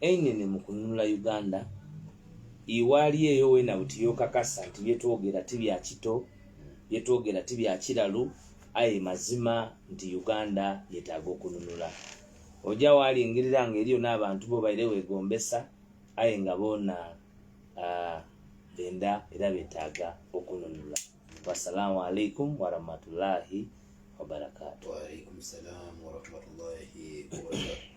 Einene mu kununula Uganda iwali eyo wena buti yokakasa nti byetwogera ti bya kito, byetwogera ti bya kiralu aye mazima nti Uganda yetaaga okununula. Oja walingirira nga eriyo n'abantu bo baire wegombesa aye nga bona uh, benda era betaaga okununula. Wassalamu alaikum warahmatullahi wabarakatuh. Wa alaikum salam warahmatullahi wabarakatuh.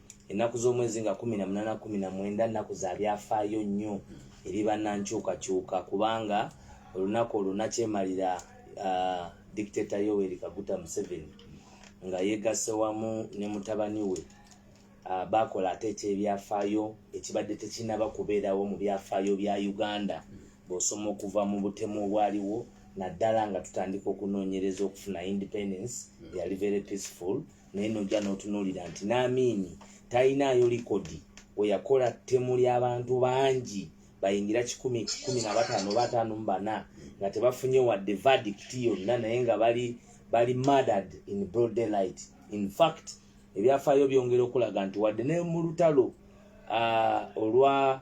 ennaku z'omwezi nga kumi na munaana kumi na mwenda nnaku za byafaayo nnyo eri bannankyukakyuka kubanga olunaku olwo nakyemalira uh, dictator yoweri kaguta museveni nga yegasse wamu ne mutabani we uh, bakola ate ekyebyafaayo ekibadde tekinaba kubeerawo mu byafaayo bya uganda bwosoma okuva mu butemu obwaliwo naddala nga tutandika okunoonyereza okufuna independence yali very peaceful naye nojja n'otunuulira nti n'amiini talinaayo likodi we yakola ttemu ly'abantu bangi bayingira kikumi kikumi na bataano oba ataano mu bana nga tebafunye wadde verdict yonna naye nga bali bali murdered in broad daylight in fact ebyafaayo byongera okulaga nti wadde ne mu lutalo uh, olwa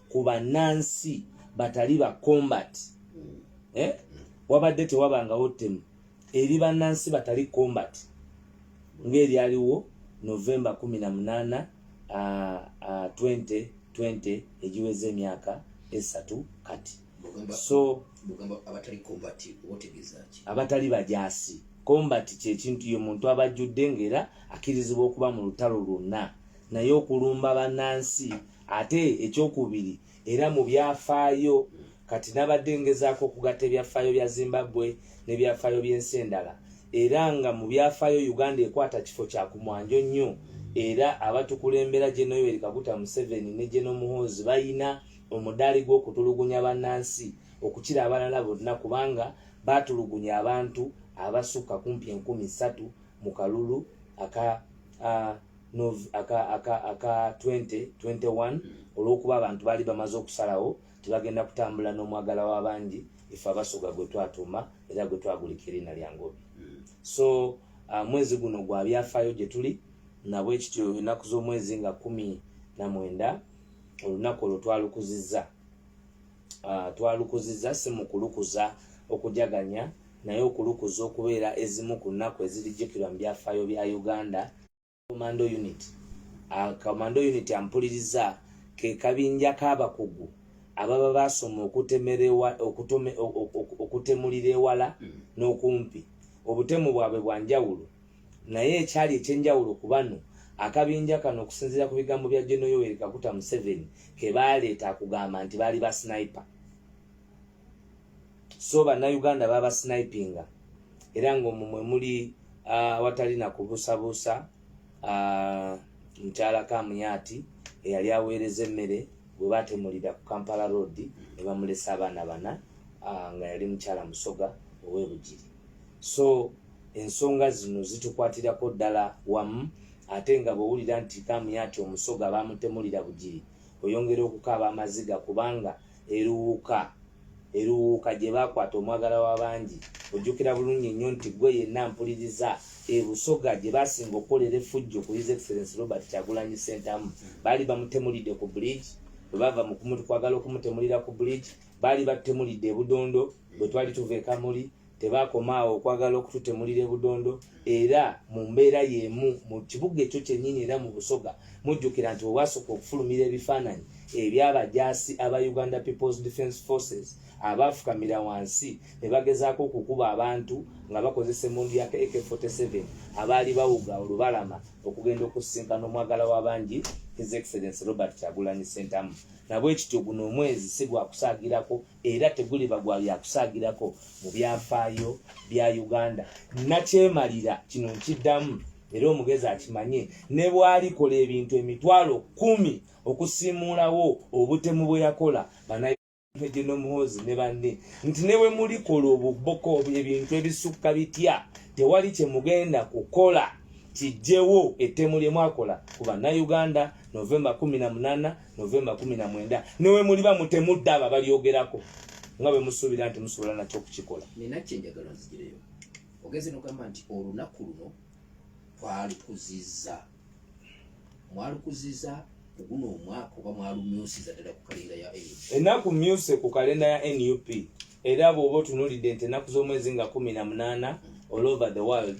ku bannansi batali ba combat eh? wabadde tewabangawo ttemu eri bannansi batali combat ng'eryaliwo novemba 18 2020 egiweza emyaka esatu kati so abatali bajaasi combat kyekintu ye muntu abajjudde ngaera akkirizibwa okuba mu lutalo lwonna naye okulumba bannansi ate ekyokubiri era mu byafaayo kati nabadde ngezaako okugatta ebyafaayo bya zimbabwe nebyafaayo byensi endala era nga mu byafaayo uganda ekwata kifo kya kumwanjo nnyo era abatukulembera gyenoyoweri kaguta museveni ne gyenomuhoozi bayina omudaali gw'okutulugunya bannansi okukira abalala bonna kubanga baatulugunya abantu abasukka kumpi enkumi ssatu mu kalulu aka uh, aka 2021 olw'okuba abantu baali bamaze okusalawo tebagenda kutambula n'omwagala w'abangi ife abasoga gwe twatuuma era gwe twagulika eriina lya ngobi so uh, mwezi guno gwa byafaayo gye tuli nabwe kityo ennaku z'omwezi nga kumi na mwenda olunaku olwo twalukuzizza uh, twalukuziza si mu kulukuza okujaganya naye okulukuza okubeera ezimu ku nnaku ezirijjukirwa mu byafaayo bya uganda commando unit uh, commando unit ampuliriza ke kabinja k'abakugu ababa baasoma okutemulira ewala hmm. n'okumpi obutemu bwabwe bwa njawulo naye ekyali ekyenjawulo ku bano akabinja kano okusinziira ku bigambo bya geno yoweri kakuta museveni ke baaleeta akugamba nti baali ba snipe so bannayuganda baba snipinga era ngaomwo mwe muli awatali na kubuusabuusa mukyala kamuyaati eyali aweereza emmere gwe batemulira ku kampala road ne bamulesa abaana bana nga yali mukyala musoga ow'ebugiri so Ensonga zino zitukwatirako ddala wamu ate nga bw'owulira nti Kamuyat Omusoga baamutemulira Bugiri oyongera okukaaba amaziga kubanga eruwuuka eruwuuka gye baakwata omwagalwa wa bangi. Ojjukira bulungi nnyo nti ggwe yenna mpuliriza e Busoga gye baasinga okukolera effujjo ku His Excellency Robert Kyagulanyi Ssentamu baali bamutemulidde ku Bridge bwe baava mu kwagala okumutemulira ku Bridge baali batutemulidde e Budondo bwe twali tuva ekamuli tebaakoma awo okwagala okututemulira ebudondo era mu mbeera y'emu mu kibuga ekyo kyennyini era mu busoga mujjukira nti wewasooka okufulumira ebifaananyi ebyabajaasi aba uganda peoples defence forces abaafukamira wansi ne bagezaako okukuba abantu nga bakozesa emundu ya ak47 abaali bawuga olubalama okugenda okusisinkana omwagala w'abangi his excellence robert kyagulanyi sentamu nabwekityo guno omwezi si gwakusaagirako era teguliba gwa byakusaagirako mu byafaayo bya uganda nakyemalira kino nkiddamu era omugezi akimanye ne bwalikola ebintu emitwalo kumi okusiimuulawo obutemu bwe yakola banageno muhoozi ne banne nti ne bwe mulikola obuboko ebintu ebisukka bitya tewali kye mugenda kukola kijjewo ettemu lye mwakola ku bannayuganda novemba kumi na munaana novemba kumi na mwenda newe muliba mutemudde abo abalyogerako nga bwe musuubira nti musobola nakyo okukikola nina kyenjagala nzigireyo ogenze nogamba nti olunaku luno twalukuziza mwalukuziza kuguno omwaka oba mwalumyusiza ddala ku kalenda ya enaku myuse ku kalenda ya nup era bwoba otunulidde nti enaku z'omwezi nga kumi na munaana all over the world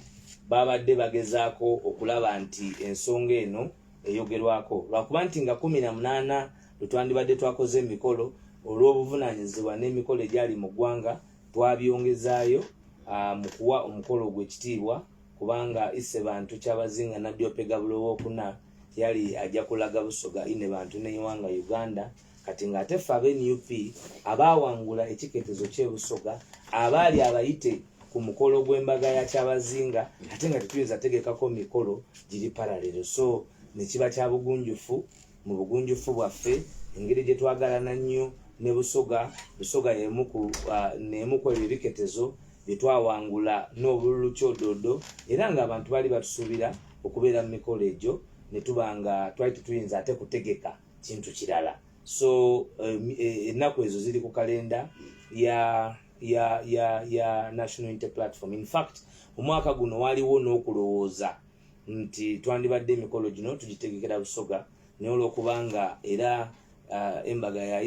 babadde bagezaako okulaba nti ensonga eno eyogerwako lwakuba nti nga kumi na munaana lwe twandibadde twakoze emikolo olw'obuvunaanyizibwa n'emikolo egyali mu ggwanga twabyongezaayo ah, mu kuwa omukolo ogw'ekitiibwa kubanga isse bantu kyabazinga nabbi opegabulo owokuna yali ajja kulaga busoga ine bantu neiwanga uganda kati ng'ate ffe aba nup abaawangula ekiketezo ky'ebusoga abaali abayite ku mukolo gw'embaga ya kyabazinga ate nga tetuyinza tegekako mikolo giri paralero so nekiba kya bugunjufu mu bugunjufu bwaffe engeri gye twagalana nnyo ne busoga busoga neemu ku ah, ebyo ebiketezo bye twawangula n'obululu kyodoodo era ng'abantu baali batusuubira okubeera mu mikolo egyo ne tuba nga twali tetuyinza ate kutegeka kintu kirala so um, e, ennaku um, ezo ziri ku kalenda ya ya ya ya national inter platform in fact omwaka guno waliwo n'okulowooza nti twandibadde emikolo gino tugitegekera busoga naye olwokubanga era uh, embaga ya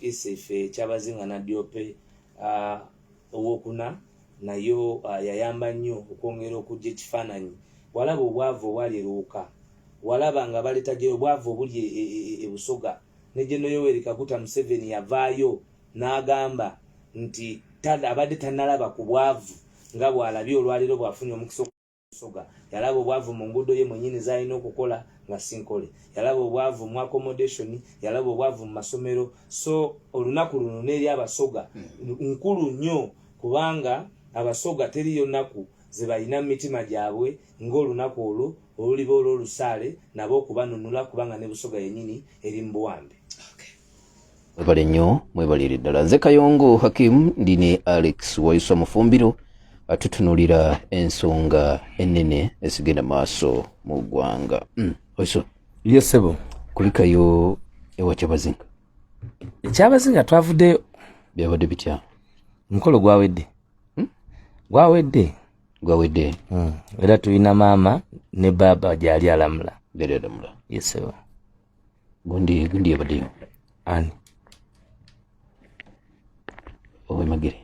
isefe kyabazinga nadyope uh, owokuna nayo uh, yayamba nnyo okwongera okujja ekifaananyi walaba obwavu obwali eruuka walaba nga baleta gye obwavu obuli e, e, e, e busoga ne gye noyoweri kaguta museveni yavaayo n'agamba nti abadde tanalaba ku bwavu nga bw'alabye olwaleero bw'afunye omukisa Soga yalaba obwavu mu nguudo ye mwennyini z'alina okukola nga sinkole, yalaba obwavu mu accommodation, yalaba obwavu mu masomero. So olunaku luno n'eri Abasoga hmm. nkulu nnyo kubanga Abasoga teriyo nnaku ze balina mu mitima gyabwe ng'olunaku olwo oluliba olw'olusaale nabo okubanunula kubanga ne Busoga yennyini eri mu buwambe. mwebale nnyo mwebalire ddala nze kayongo hakimu ndi ne alex wayisa mufumbiro atutunulira ensonga ennene ezigenda maaso mu ggwanga mm, wayisa yesebo kulikayo ewa kyabazinga ekyabazinga twavudde byabadde bitya omukolo gwawedde hmm? gwawedde gwawedde hmm. era tulina maama ne baaba gyali alamula gyali alamula yesebo gundi gundi yabaddeyo ani owemagere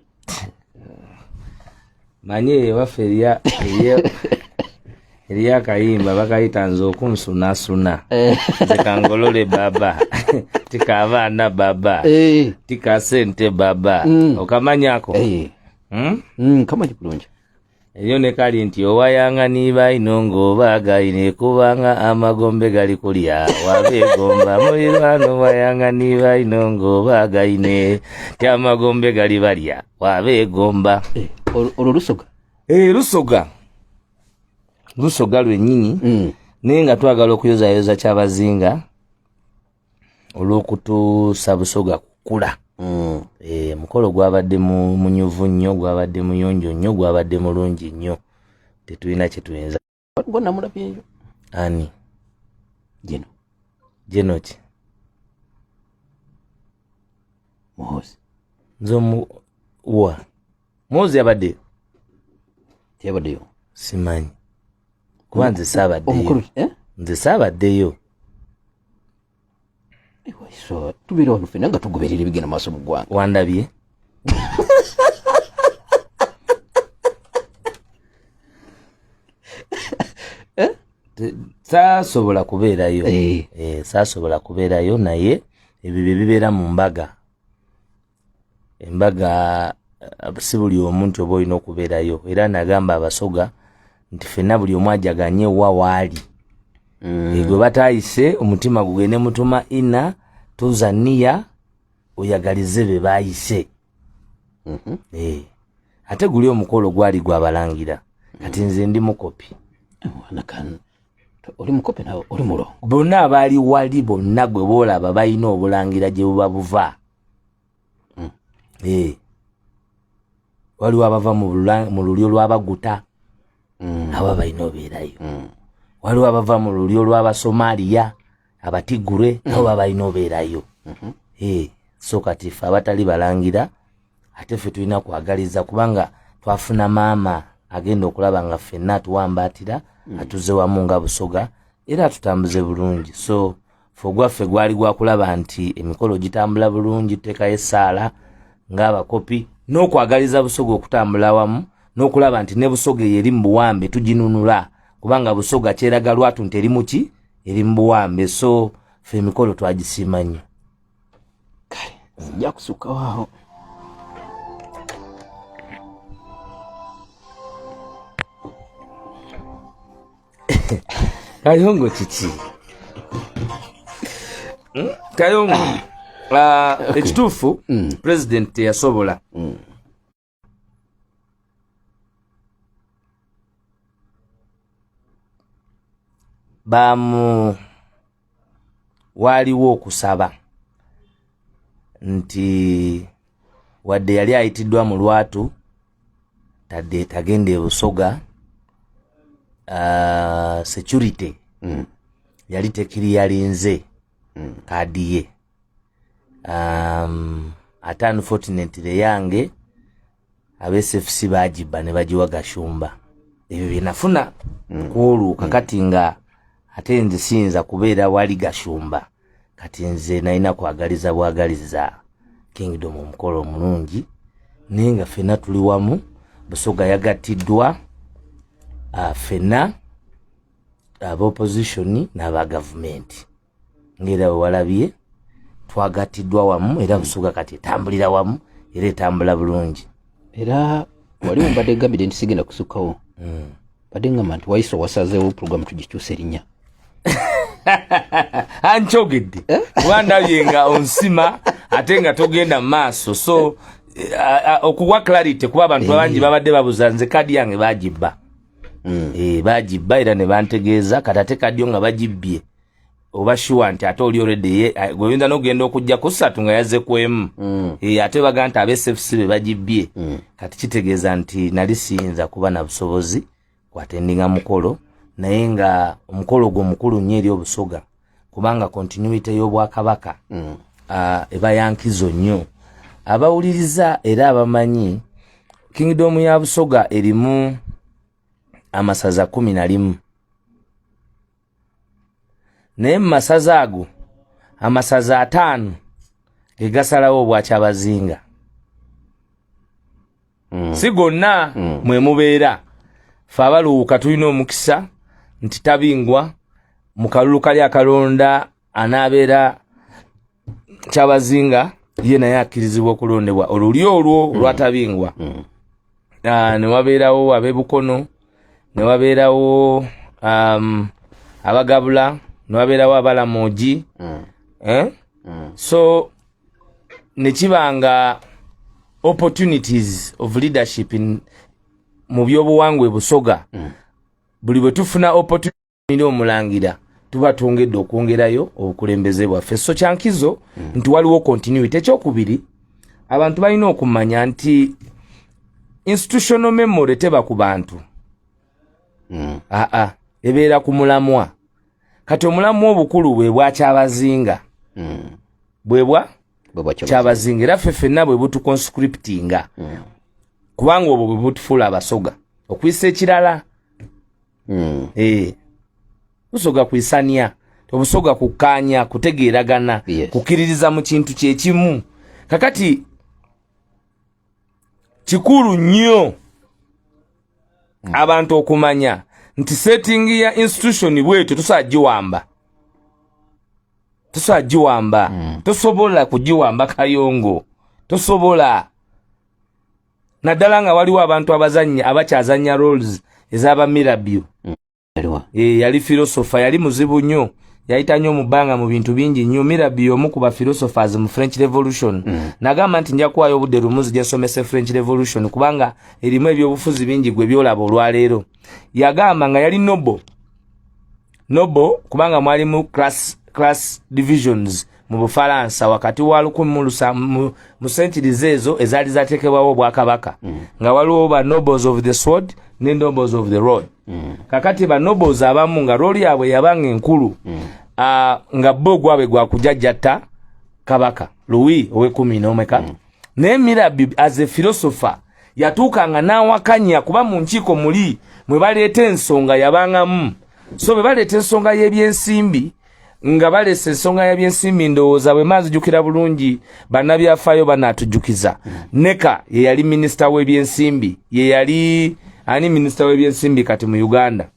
manyi ewaffe eriya eriyo akayimba bakayita nze okunsunasuna eh. zikangolole baba tika abaana baba eh. tika sente baba mm. okamanyako eh. hmm? mm, kamanyi bulungi Enyo ne kali nti owayanga niba ino ngoba gaine kubanga amagombe gali kulya wabegomba mulirwano wayanga niba ino ngoba gaine ti amagombe gali balya wabegomba eh, olwo lusoga eh, lusoga lusoga lwenyini mm. naye nga twagala okuyozayoza kyabazinga olw'okutuusa busoga kukula mm. e, mukolo gwabadde munyuvu nnyo gwabadde muyonjo nnyo gwabadde mulungi nnyo tetulina kyetuyinza gonamulabyeyo ani jeno jeno ki muhozi nze omuwa muzi yabadde yabaddeyo simanyi kuba nze saabaddeyo eh? nze saabaddeyo tubeera wano fena nga tugoberera ebigenda maaso mu ggwanga wandabye eh? saasobola kubeerayo eh. saasobola kubeerayo naye ebyo bye bibeera mu mbaga embaga eh, si buli omu nti oba olina okubeerayo era nagamba abasoga nti fenna buli omu ajaganye wa waali mm. eh, gwe batayise omutima gugende mutuma ina tuza niya oyagalize be bayise mm -hmm. eh. ate guli omukolo gwali gwabalangira kati nze ndi mukopi oli mukopi nawe oli mulongo bonna abaali wali bonna gwe boolaba balina obulangira gye buba buva hmm. eh. waliwo abava mu lulyo lwabaguta hmm. abo balina obeerayo hmm. waliwo abava mu lulyo lwabasomaliya abatigure nabo baba balina obeerayo mhm. eh, so kati fe abatali balangira ate fe tulina kwagaliza kubanga twafuna maama agenda okulaba nga ffenna atuwambaatira atuze wamu nga busoga era atutambuze bulungi so fe ogwaffe gwali gwa kulaba nti emikolo gitambula bulungi tuteekayo essaala ng'abakopi n'okwagaliza busoga okutambula awamu n'okulaba nti ne busoga eyo eri mu buwambe tuginunula kubanga busoga kyeraga lwatu nti eri muki eri mu buwambe so fe emikolo twagisiima nnyo kale nzija kusukkawo awo kayongo kiki hmm? kayongo ah, ekituufu hmm. pulezidenti teyasobola hmm. bamu waaliwo okusaba nti wadde yali ayitiddwa mu lwatu tadde tagenda ebusoga uh, security mm. yali tekiri yalinze mm. kaadiye um, ate unfortunately yange absfc bagibba ne bagiwa gashumba ebyo byenafuna mm. kwoluuka mm. kati nga ate nze siyinza kubeera wali gashumba kati nze nalina kwagaliza bwagaliza kingdom omukolo omulungi naye nga fena tuli wamu busoga yagattiddwa uh, fena aba opposition n'aba gavumenti ng'era we walabye twagattiddwa wamu era busuga kati etambulira wamu era etambula bulungi era wali mbadde gambide nti sigenda kusukkawo hmm. badde ngamba nti wayisa owasazeewo pulogulamu tugikyusa erinnya ankyogedde eh? wandabye nga onsima ate nga togenda mu maaso so okuwa clarity kuba abantu abangi eh. babadde babuza nze kadi yange bagibba hmm. eh, bagibba era ne bantegeeza kati ate kadiyo nga bagibbye oba shuwa nti ate oli olwedde gweoyinza nogenda okujja kusatu nga yazze kwemu mm. eh, ate baga nti abesfc be bagibbye mm. kati kitegeeza nti nali siyinza kuba na busobozi kwatendinga mukolo naye nga omukolo gwo mukulu nnyo eri obusoga kubanga kontinuite y'obwakabaka mm. ah, eba yankizo nnyo abawuliriza era abamanyi kingdom ya busoga erimu amasaza kumi na limu naye mu masaza ago amasaza ataano ge gasalawo obwakyabazinga mm. si gonna mm. mwe mubeera fe abaluwuka tulina omukisa nti tabingwa mu kalulu kali akalonda anaabeera kyabazinga ye naye akkirizibwa okulondebwa oluli olwo mm. lwatabingwa mm. ah, newabeerawo abebukono newabeerawo um, abagabula newabeerawo abalamugi mm. eh? so nekiba nga opportunities of leadership in, mu byobuwangwa ebusoga buli bwe tufuna opportunity nira omulangira tuba twongedde okwongerayo obukulembeze bwaffe so kyankizo mm. nti waliwo continuity ekyokubiri abantu balina okumanya nti institutional memory teba ku bantu mm. aa ebeera ku mulamwa kati omulamwa obukulu bwe bwakyabazinga mm. bwebwa kyabazinga era ffe fenna bwe butuconscriptinga mm. kubanga obwo bwe butufuula abasoga okuyisa ekirala mm. eh. tusoga kwisania tobusoga kukanya kutegeeragana yes. kukiririza mu kintu kyekimu kakati kikulu nnyo mm. abantu okumanya nti setting ya institution bwetyo tusobola giwamba tusobola giwamba mm. tosobola kugiwamba kayongo tosobola naddala nga waliwo abantu abazannya abakyazannya roles ezaba mirabyo mm. eh, yali filosofa yali muzibu nnyo yayita nnyo mu bbanga mu bintu bingi nnyo mirabi y'omu ku bafilosofers mu french revolution mm. nagamba nti nja kuwayo obudde lumu nzija nsomese french revolution kubanga erimu ebyobufuzi bingi gwe byolaba olwaleero yagamba nga yali nobo nobo kubanga mwalimu class, class divisions mu bufalansa wakati wa lukumi mu sentiriza ezo ezaali zateekebwawo obwakabaka mm. nga waliwo ba nobles of the sword ne nobles of the road mm. kakati ba nobles abamu nga rooli yaabwe yabanga enkulu mm. uh, nga bo gwabwe gwakujajjatta kabaka luwi owekumi nomeka mm. naye mirabi as a philosopher yatuukanga n'awakanya kuba mu nkiiko muli mwe baleeta ensonga yabangamu so bwe baleeta ensonga y'ebyensimbi nga baleesa ensonga y'ebyensimbi ndowooza bwe maazijukira bulungi bannabyafaayo banaatujjukiza neka ye yali minisita w'ebyensimbi ye yali ani minisita w'ebyensimbi kati mu uganda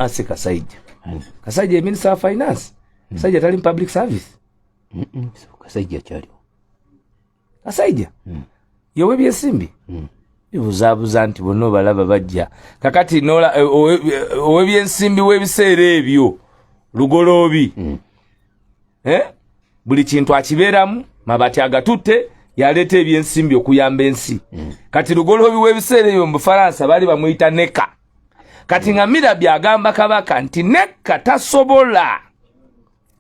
si kasajja kasajja ye minisita wa finance kasajja tali mu public service kasajja kyaliwo kasajja hmm. yowe byesimbi hmm. bibuzabuza nti bonna obalaba bajja kakati nola eh, owebyensimbi eh, webiseera ebyo lugoloobi hmm. eh? buli kintu akibeeramu mabati agatutte yaleeta ebyensimbi okuyamba ensi kati lugoloobi webiseera ebyo mu bufaransa baali bamuyita neka kati nga mirabi agamba kabaka nti neka tasobola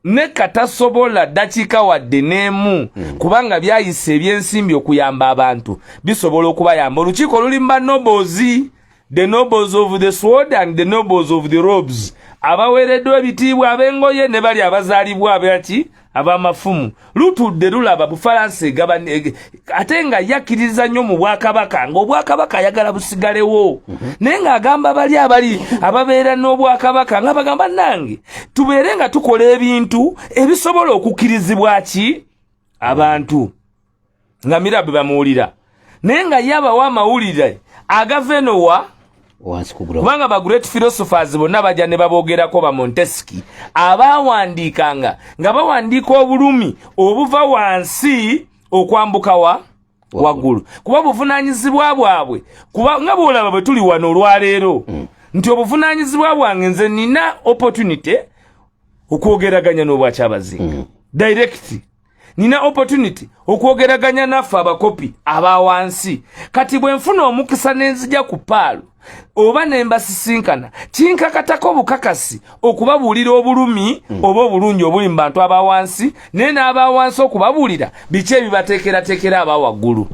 ne katasobola dakiika wadde n'emu hmm. kubanga byayisa ebyensimbi okuyamba abantu bisobola okubayamba olukiiko oluli mu banobozi the nobles of the sword and the nobles of the robes abaweereddwa ebitiibwa ab'engoye ne bali abazaalibwa abaki ab'amafumu lutudde lulaba bufalansa egaba ate nga yakkiriza nnyo mu bwakabaka ng'obwakabaka ayagala busigalewo mhm. naye ng'agamba bali abali ababeera n'obwakabaka nga bagamba nange tubeere nga tukola ebintu ebisobola okukkirizibwa ki abantu nga mira bwe bamuwulira naye nga ye abawa amawulire agava eno wa kubanga ba great philosophers bonna bajja ne baboogerako ba montesiki abaawandiikanga nga bawandiika obulumi obuva wansi okwambuka wa waggulu kuba buvunaanyizibwa bwabwe kuba nga bwolaba bwe tuli wano olwaleero mm. nti obuvunaanyizibwa bwange nze nina opportunity okwogeraganya n'obwakyabazinga mm. direct nina opportunity okwogeraganya naffe abakopi aba wansi kati bwe nfuna omukisa nenzija ku paalo oba nembasisinkana kinkakatako obukakasi okubabuulira obulumi mm. oba obulungi obuli mu bantu aba wansi naye n'aba wansi okubabuulira biki ebibateekerateekera aba waggulu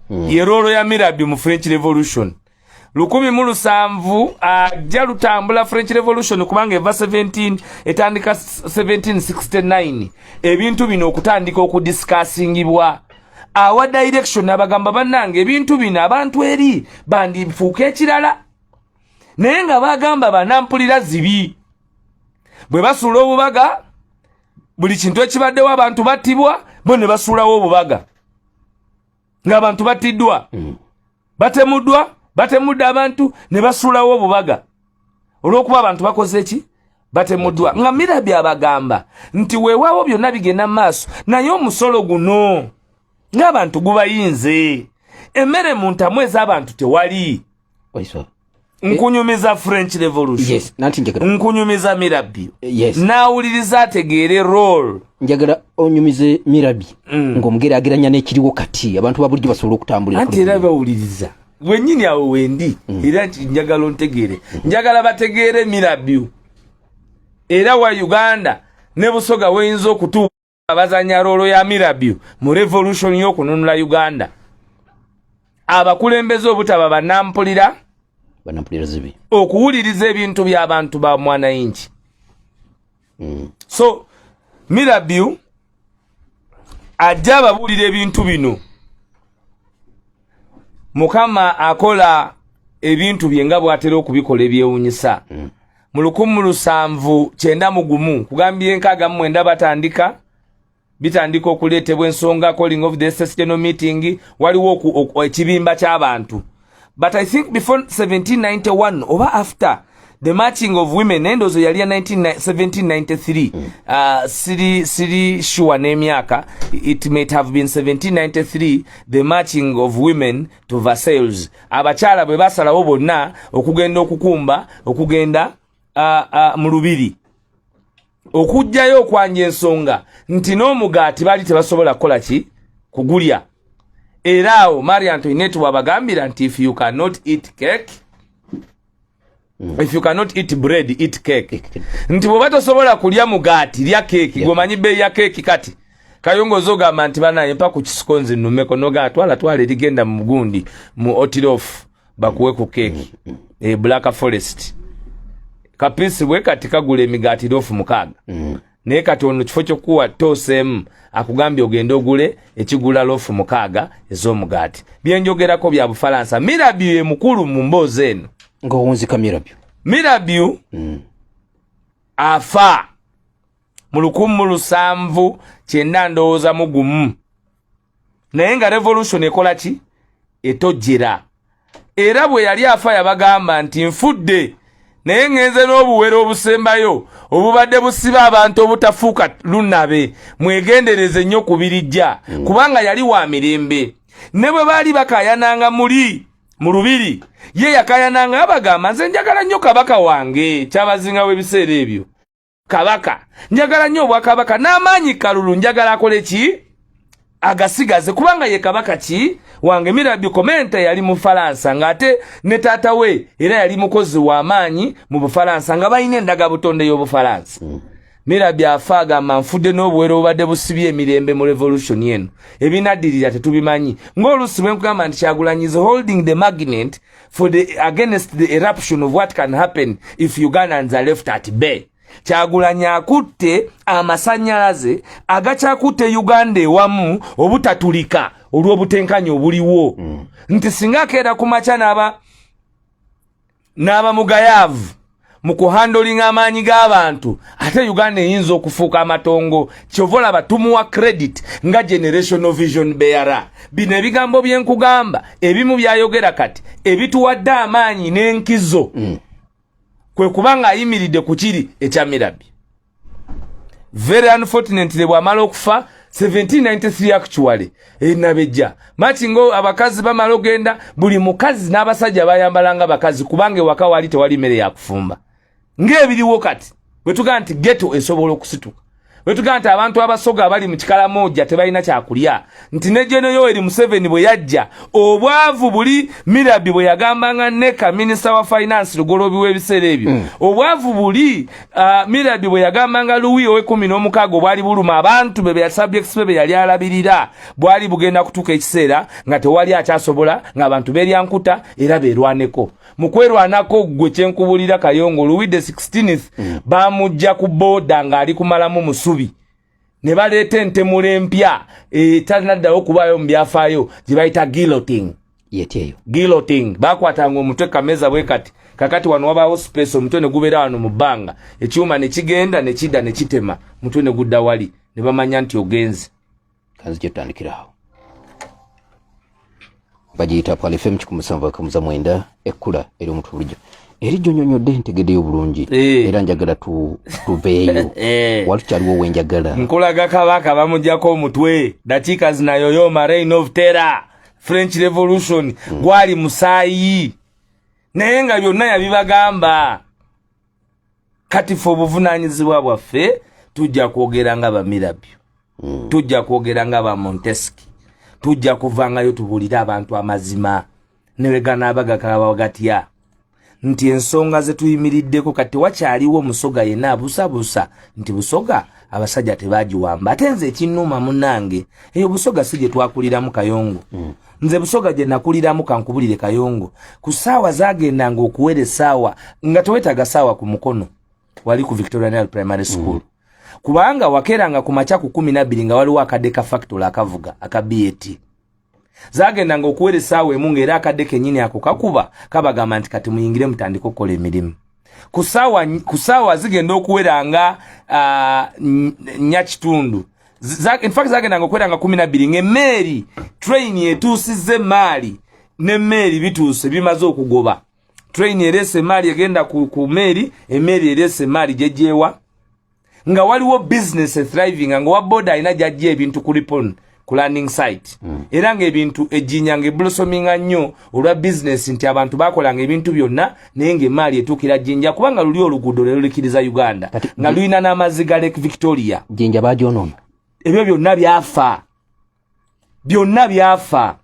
mm. ye roolo ya mirabi mu french revolution lukumi mu lusanvu ajja uh, lutambula french revolution kubanga eva 17 etandika 1769 ebintu bino okutandika okudiscussingibwa awa direction abagamba bannange ebintu bino abantu eri bandifuuka ekirala naye nga bagamba banampulira zibi bwe basuula obubaga buli kintu ekibaddewo abantu battibwa bo ne basuulawo obubaga ng'abantu battiddwa mm. batemuddwa batemudde abantu ne basuulawo obubaga olw'okuba abantu bakoze ki batemuddwa nga mirabi abagamba nti weewaawo byonna bigenda mu maaso naye omusolo guno ng'abantu gubayinze emmere mu ntamu ez'abantu tewali oiswa nkunyumiza french revolution yes, nkunyumiza mirabi yes. nawuliriza ategeere rol njagala onyumize mirabi mm. ngaomugerageranya nekiriwo kati abantu babulijjo basobola okutambulira anti era bawuliriza wenyini awo wendi mm. era nti njagala ontegeere mm. njagala bategeere mirabi era wa uganda ne busoga weyinza okutuuka abazanya rolo ya mirabyo mu revolution y'okununula uganda abakulembeze obutaba banampulira okuwuliriza ebintu by'abantu ba mwanayingi mm. so mirabyo ajja ababuulira ebintu bino mukama akola ebintu bye nga bwatera okubikola ebyewunyisa mm. mu lukumu lusanvu kyenda mu gumu kugambye enkaaga mu mwenda batandika bitandika okuleetebwa ensonga calling of the sessional meeting waliwo ekibimba ky'abantu but i think before 1791 oba after the matching of women nendozo yali ya 1793 mm. uh, siri siri sure n'emyaka it might have been 1793 the matching of women to Versailles abakyala bwe basalawo bonna okugenda okukumba okugenda uh, uh, mu lubiri okujjayo okwanja ensonga nti n'omugaati bali tebasobola kukola ki kugulya era awo marie antoinette wabagambira nti if you cannot eat cake Mm. If you cannot eat bread, eat cake. Nti bwoba tosobola kulya mugaati, lya keeki. Yeah. Gwomanyi bei ya keeki kati. Kayongo zogamba nti banaye mpa ku kisiko nze nnumeko noga atwala twala erigenda mu gundi mu otirof bakuwe ku keeki. Mm. E Black Forest. Kapisi bwe kati kagula emigaati rofu mukaaga. Mm. naye kati ono kifo kyokuwa toseemu akugambye ogende ogule ekigula lofu mukaaga ez'omugaati byenjogerako bya bufalansa mirabyu ye mukulu mu mboozi eno ngaowunzika mirabyu mirabyu mm. afa mu lukumu lusanvu kyenda ndowooza mugumu naye nga revolution ekola ki etojjera era bwe yali afa yabagamba nti nfudde naye ŋenze n'obuwero obusembayo obubadde busiba abantu obutafuuka lunabe mwegendereze nnyo ku birijja mm. kubanga yali wa mirembe ne bwe baali bakayananga muli mu lubiri ye yakayananga abagamba nze njagala nnyo kabaka wange kyabazinga w'ebiseera ebyo kabaka njagala nnyo obwakabaka n'amaanyi kalulu njagala akole ki agasigaze kubanga ye kabaka ki wange mirabi komenta yali mu falansa ng'ate ne taata we era yali mukozi w'amaanyi mu bufalansa nga balina endaga butonde y'obufalansa hmm. mirabi afa agamba nfudde n'obuwero obubadde busibye emirembe mu revolution eno ebinaddirira tetubimanyi ng'oluusi bwe nkugamba nti kyagulanyize holding the magnet for the against the eruption of what can happen if ugandans are left at bay kyagulanyi akutte amasanyalaze agakyakutte uganda ewamu obutatulika olw'obutenkanya obuliwo mm. nti singa akeera ku makya n'aba n'abamugayaavu mu kuhandolinga amaanyi g'abantu ate uganda eyinza okufuuka amatongo kyova olaba tumuwa credit nga generational vision beara bino ebigambo byenkugamba ebimu byayogera kati ebituwadde amaanyi n'enkizo mm. kwe kuba ng'ayimiridde ku kiri ekyamirabi very unfortunately bwamala okufa 1793 actually enabejja eh, mati ngo abakazi bamala ogenda buli mukazi n'abasajja bayambalanga abakazi kubanga ewaka wali tewali mmere yakufumba ng'ebiriwo kati bwetugaa nti geto esobola okusituka bwetugaa nti abantu abasoga abali mu kikalamoja tebalina kyakulya nti ne jeno yoweri museveni bwe yajja obwavu buli mirabi bwe yagambanga neka minisita wa finance lugolobi w'ebiseera ebyo mm. obwavu buli uh, mirabi bwe yagambanga luwi owekumi n'omukaaga obwali buluma abantu be beyasubjects be be yali alabirira bwali bugenda kutuuka ekiseera nga tewali akyasobola ng'abantu beryankuta era berwaneko mu kwerwanako ggwe kyenkubulira kayongo luwi the 16th mm. bamujja ku booda ng'ali kumalamu musubi ne baleeta entemula empya etalina eh, ddawo okubaayo mu byafaayo gye bayita guilloting yetyeyo guilloting bakwatanga omutwe kameza bwe kati kakati wano wabaawo space omutwe ne gubeera wano mu bbanga ekyuma ne kigenda ne kidda ne kitema omutwe ne gudda wali ne bamanya nti ogenze kanzi kyetandikirawo bagiyita pale fm kikumi musanvu akamuza mwenda ekkula eri omuntu bulijjo eri jonyonyodde ntegedeyo bulungi eh. era njagala tuveeyo eh. wali tukyaliwo owenjagala nkulaga kabaka bamujjako omutwe dakiika zinayoyoma reign of terror french revolution hmm. gwali musaayi naye nga byonna yabibagamba kati fe obuvunanyizibwa bwaffe tujja kwogera nga bamirabyo mm. tujja kwogera nga bamonteski tujja kuvangayo tubulire abantu amazima neweganaba gakalabawo gatya nti ensonga zetuyimiriddeko kati tewakyaliwo musoga yena abusabusa nti busoga abasajja tebagiwamba ate nze ekinuuma munange eyo busoga si gyetwakuliramu kayongo mm. nze busoga gye nakuliramu kankubulire kayongo ku saawa zagendanga okuwera esaawa nga tewetaga saawa ku mukono wali ku victoria nile primary mm. school mm. kubanga wakeranga ku makya ku kumi nabbiri nga waliwo akadde ka factory akavuga aka bat zagendanga okuwera esaawa emu ngaera akadde kenyini ako kakuba kabagamba nti kati muyingire mutandike okukola emirimu ku saawa zigenda okuwera nga nya kitundu infact zagendanga okuwera nga kumi nabbiri ngaemmeeri train etuusizza emmaali nemmeeri bituuse bimaze okugoba train ereese emmaali egenda ku mmeeri emmeeri ereese emmaali gyegyewa nga waliwo business thriving nga wa boda alina gyajja ebintu ku ripon ku landing site mm. era ng'ebintu ejjinya ng'eblosominga nnyo olwa bizinesi nti abantu bakolanga ebintu byonna naye ng'emaali etuukira jjinja kubanga luli oluguudo lwe lulikiriza uganda nga lulina n'amazzi ga lake victoria jjinja bagyonoona ebyo byonna byafa byonna byafa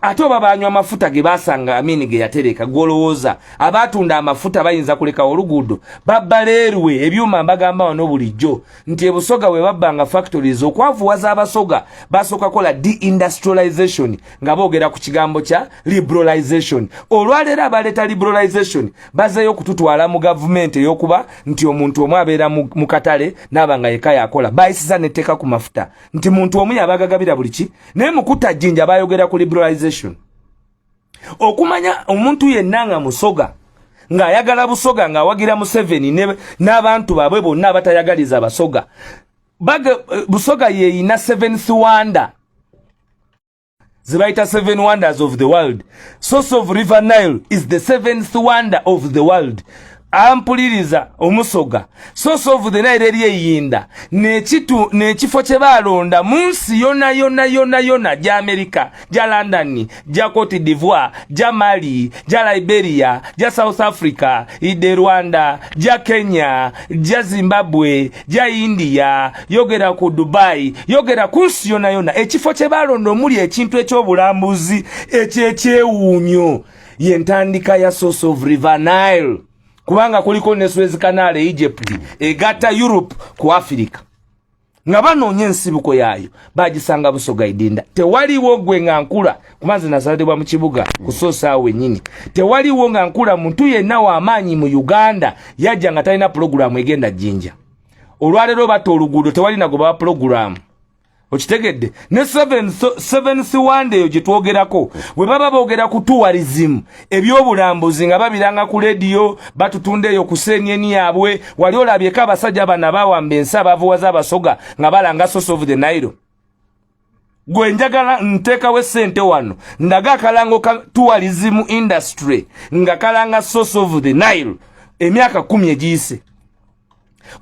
ate oba banywa amafuta ge basanga amini ge yatereka gwolowooza abatunda amafuta bayinza kulekawo oluguudo babba leerwe ebyuma mbagamba wano bulijjo nti ebusoga we babbanga factories okwavuwaza abasoga basooka kola deindustrialization nga boogera ku kigambo kya liberalization olwaleero abaleeta liberalization bazeeyo okututwala mu gavumenti ey'okuba nti omuntu omu abeera mu katale naaba nga yeka yakola bayisiza netteeka ku mafuta nti muntu omu yabagagabira buli ki naye mukuta jinja bayogera ku liberalization okumanya omuntu yenna nga musoga ng'ayagala busoga ng'awagira museveni n'abantu baabwe bonna abatayagaliza basoga eh, busoga yeeyina seventh wonder zibayita seven wonders of the world source of river nile is the seventh wonder of the world ampuliriza omusoga source of the nile eri eyinda nekitu nekifo kye balonda mu nsi yona yona yona yona gya amerika gya london gya cote divoire gya mali gya liberia gya south africa ide rwanda gya kenya gya zimbabwe ja india yogera ku dubai yogera ku nsi yona yona ekifo kye balonda omuli ekintu ekyobulambuzi ekyekyewuunyo yentandika ya source of river nile kubanga kuliko ne suez canal e egypt egatta europe ku africa nga banoonya ensibuko yaayo bagisanga busoga idinda tewaliwo gwe nga nkula kuba nze nazalidibwa mu kibuga kusoosa awo wenyini tewaliwo nga nkula muntu yenna wamaanyi mu uganda yajja nga talina pulogulaamu egenda jjinja olwaleero batta oluguudo tewalina gwe bawa pulogulaamu okitegedde ne seven siwanda eyo gyetwogerako bwe baba boogera ku tourism ebyobulambuzi nga babiranga ku lediyo batutunda eyo ku senyeni yaabwe wali olabyeko abasajja bana bawamba ensi abavuwaza abasoga nga balanga source of the nile gwe njagala ntekawo esente wano ndaga akalango ka tourism industry nga kalanga source of the nile emyaka kumi egiyise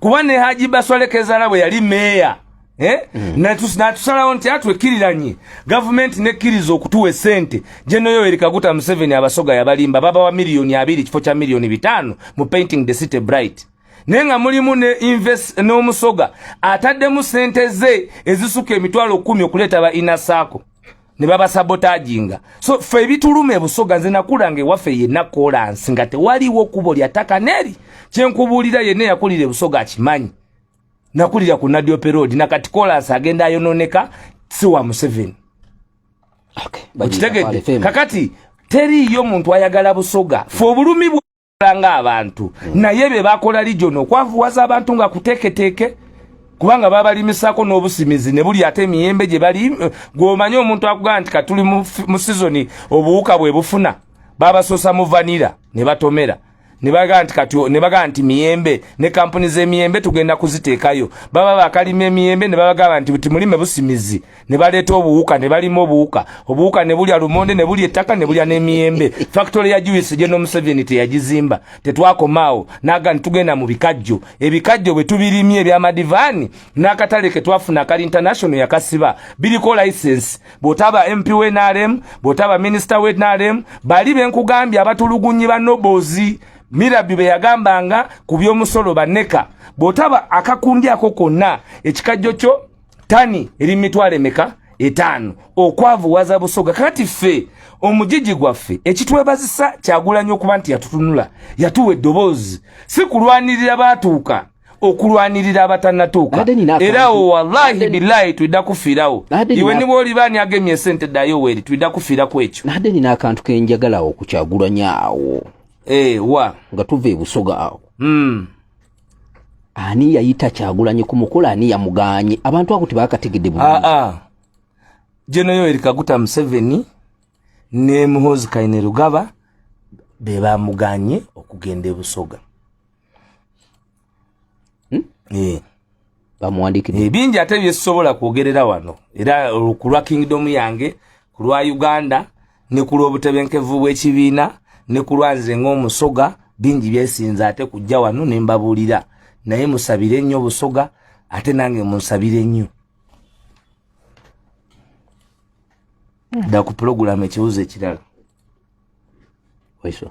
kuba ne haji baswalekezala bwe yali meeya eh? mm. natusalawo nti atwekiriranye gavumenti nekkiriza okutuwa esente gyenoyoweri kaguta museveni abasoga yabalimba babawa miliyoni abiri kifo kya miliyoni bitaano mu painting the city bright naye nga mulimu ne invest n'omusoga ataddemu sente ze ezisuka emitwalo kumi okuleeta ba inasaako ne babasabotaginga so fe ebituluma ebusoga nze nakulanga ewaffe yenna kolansi nga tewaliwo kubo lya ttaka neri kyenkubuulira yenna eyakulira ebusoga akimanyi nakulira ku nadiope road nakati kolansi agenda ayononeka si wa museveni okitegedde kakati teriiyo muntu ayagala busoga fe obulumi nga abantu hmm. naye bye bakola lijo no kwavuwaza abantu nga kuteketeke kubanga babalimisako n'obusimizi ne buli ate emiyembe gye bali eh, gw'omanyi omuntu akugamba nti katuli mu sizoni obuwuka bwe bufuna babasosa mu vanira ne batomera ne bagamba nti kati ne bagamba nti miyembe ne kampuni z'emiyembe tugenda kuziteekayo baba bakalima emiyembe ne babagamba nti timulime busimizi ne baleeta obuwuka ne balima obuwuka obuwuka ne bulya lumonde ne bulya ettaka ne bulya n'emiyembe fakitole ya juisi gye n'omuseveni teyagizimba tetwakomaawo naga ni tugenda mu bikajjo ebikajjo bwe tubirimye ebyamadivaani n'akatale ke twafuna akali international yakasiba biriko license bw'otaba mp we nrm bw'otaba minisita we nrm bali be nkugambye abatulugunyi ba nobozi mirabi be yagambanga ku by'omusolo baneka bw'otaba akakundi ako konna ekikajjo kyo tani eri mitwalo emeka etaano okwavuwaza busoga kati ffe omujiji gwaffe ekitwebazisa kyagulanyo okuba nti yatutunula yatuwa eddoboozi si kulwanirira baatuuka okulwanirira abatanatuuka era awo wallahi bilayi tulida kufiirawo iwe niba oliba ani agemye esente dayo weri tulida kufiiraku ekyo nade nina akantu kenjagalawo okukyagulanya awo eh, wa nga tuva ebusoga awo hmm. ani yayita kyagulanyi ku mukolo ani yamuganye abantu ako tebakategedde bulungi ah, ah. jeno yoweri kaguta museveni ne muhozi kaine rugaba be bamuganye okugenda ebusoga hmm? yeah. bamuwandikidde ebingi ate byesobola kwogerera wano era kulwa kingdom yange kulwa uganda ne kulwa obutebenkevu bw'ekibiina ne kulwa nze ng'omusoga bingi byesinza ate kujja wano ne mbabuulira naye musabire nnyo obusoga ate nange munsabire nnyo dda ku pulogulaamu ekibuzo ekirala waiso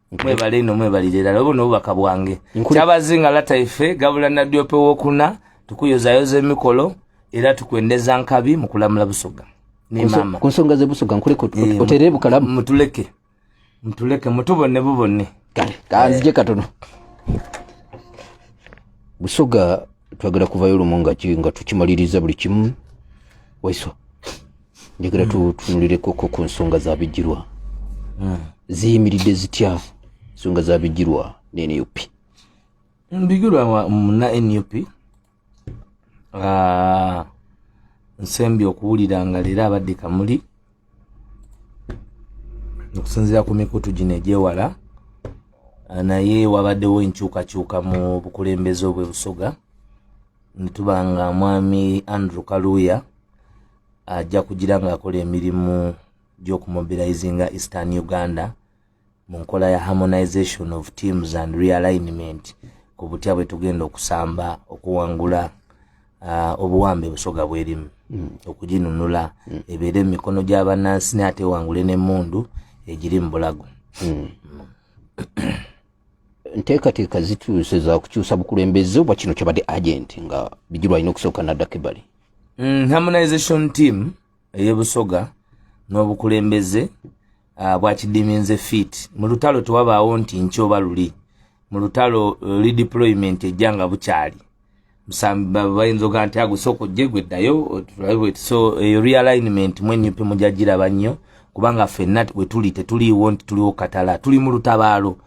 mwebale ino mwebalire ddala obo n'obubaka bwange kyabazinga lata ife gabula nadyope wokuna tukuyozayoza emikolo era tukwendeza nkabi mu kulamula busoga nemama ku nsonga zebusoga nkuleke eh, otere bukalamu mutuleke mutuleke mutubone bubone kale kanzije eh. katono busoga twagala kuvayo lumu nga tukimaliriza buli kimu waiso njagala mm. tutunulireko ko ku nsonga za bijirwa mm. ziyimiridde zitya nsonga za bijirwa ne nup bijirwa muna nup ah, nsembi okuwulira nga leero abadde kamuli okusinzira ku mikutu gino egyewala ah, naye wabaddewo enkyukakyuka mu bukulembeze obwe busoga ntuba nga mwami andrew kaluuya ajja kugira ng'akola emirimu gy'okumobilizinga eastern uganda mu nkola ya harmonization of teams and realignment ku butya bwe tugenda okusamba okuwangula uh, obuwambe busoga bwerimu mm. okuginunula mm. ebeere mu mikono gy'abannansi ne atewangule n'emmundu egiri mu bulago mm. mm. nteekateeka zituuse za kukyusa bukulembeze oba kino kyabadde agenti nga bijirwa alina okusooka naddako ebbali mm, harmonization team ey'ebusoga n'obukulembeze ah, bwakidiminze fit mu lutalo tewabaawo nti nkyoba luli mu lutalo eh, redeployment ejja nga bukyali bayinza oga nti agusooka ojje gwe ddayo so eyo realignment mwenyupe mujagiraba nnyo kubanga fenna wetuli tetuliiwo nti tuliwo katala tuli mu lutabaalo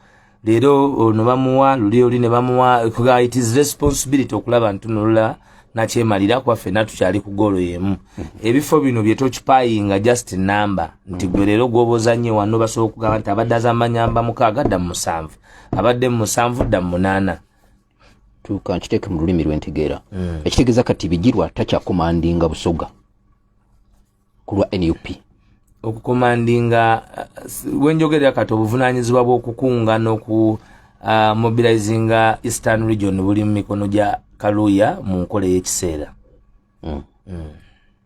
leero ono bamuwa luli oli ne bamuwa it is responsibility okulaba ntunulula nakyemalira kuba fenna tukyali ku goolo yemu ebifo bino byetokipayinga just number nti gwe leero gwoboza nnyo wano basobola okugamba nti abadde azamanyamba mukaaga dda mu musanvu abadde mu musanvu dda mu munaana tuka nkiteeke mu lulimi lwentegeera mm. ekitegeeza kati bigirwa takyakomandinga busoga ku lwa nup okukomandinga uh, wenjogerera kati obuvunanyizibwa bwokukunga noku uh, mobilizinga eastern region buli mu mikono gya kaluya mu nkola eyekiseera mm. mm.